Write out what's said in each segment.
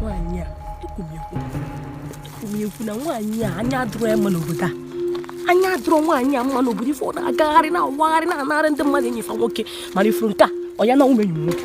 nwaanyị a ekwu m ya ekwu ekwu m ya ekwu na nwaanyị a anya adụrụ ya mma n'obodo a anya adụrụ nwaanyị a mma n'obodo ife ọ na-agagharị na-awagharị na-anarị ndị mmadụ enyi fa nwoke mana ị fụrụ nke a ọ ya nanwu m enyi nwoke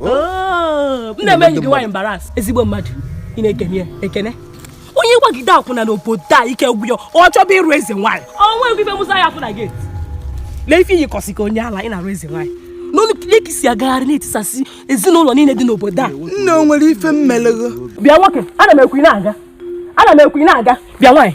Oh, m na-eme enyi gị nwaanyị embarrass ezigbo mmadụ ị na-ekene ekene onye gbagide akwụna n'obodo a ike gwụ ya ọ chọba ịrụ eze nwaanyị ọnwa egwu ife Musa ya-afụ na gate lee ife i yikọsị ka onye ala ị na-arụ eze nwaanyị n'ọnụ ka i si agagharị na-etisasị ezinụlọ niile dị n'obodo a nne o nwere ife m mele ghị bịa nwoke ana m ekwu ị na-aga ana m ekwu ị na-aga bịa nwaanyị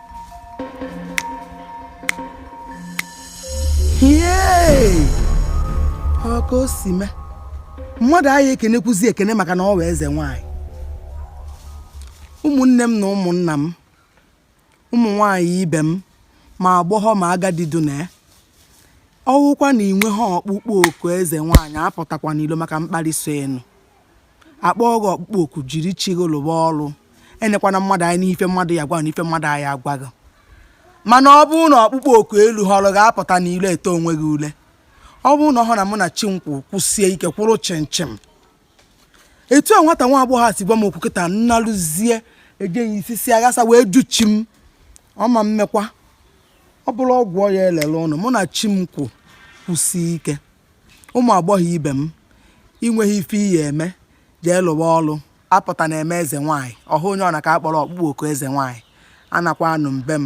ọ ka o si mee mmadụ aya ekenekwuzi ekene maka na ọ wụ eze nwaanyị ụmụnne m na ụmụnna m ụmụ nwaanyị ibe m ma agbọghọ ma agadi dị na ya ọ wụkwa na i nwehọ ọkpụkpọ oku eze nwaanyị apụtakwana ilo maka mkparị so enu akpọ gị ọkpụkpọ oku jiri chi gị lụwa ọrụ enekwana mmadụ anya n'ife mmadụ ya-agwa na ife mmadụ aya agwa ghị mana ọ bụrụ na ọkpụkpọ oku eluhọrọ gị apụtana ilo eto onwe gị ule ọ bụrụ na ọ hụ na mụ na chi m kwụ kwụsie ike kwụrụ chịmchịm etu a nwata nwa agbọghọ a si gwa m okwu kịta m naluzie ejeghị isi si aghasa wee jụ chi m ọ ma mekwa ọ bụrụ ọgwụ ọ ya-elele unu mụ na chi m kwụ kwụsie ike Ụmụ agbọghọ ibe m, i nweghị ife ị ya eme, jee lụwa ọrụ. Apụtana eme eze nwaanyị, ọ hụ onye ọ na ka a kpọrọ ọkpụkpọ oku eze nwaanyị. Anakwanụ m be m.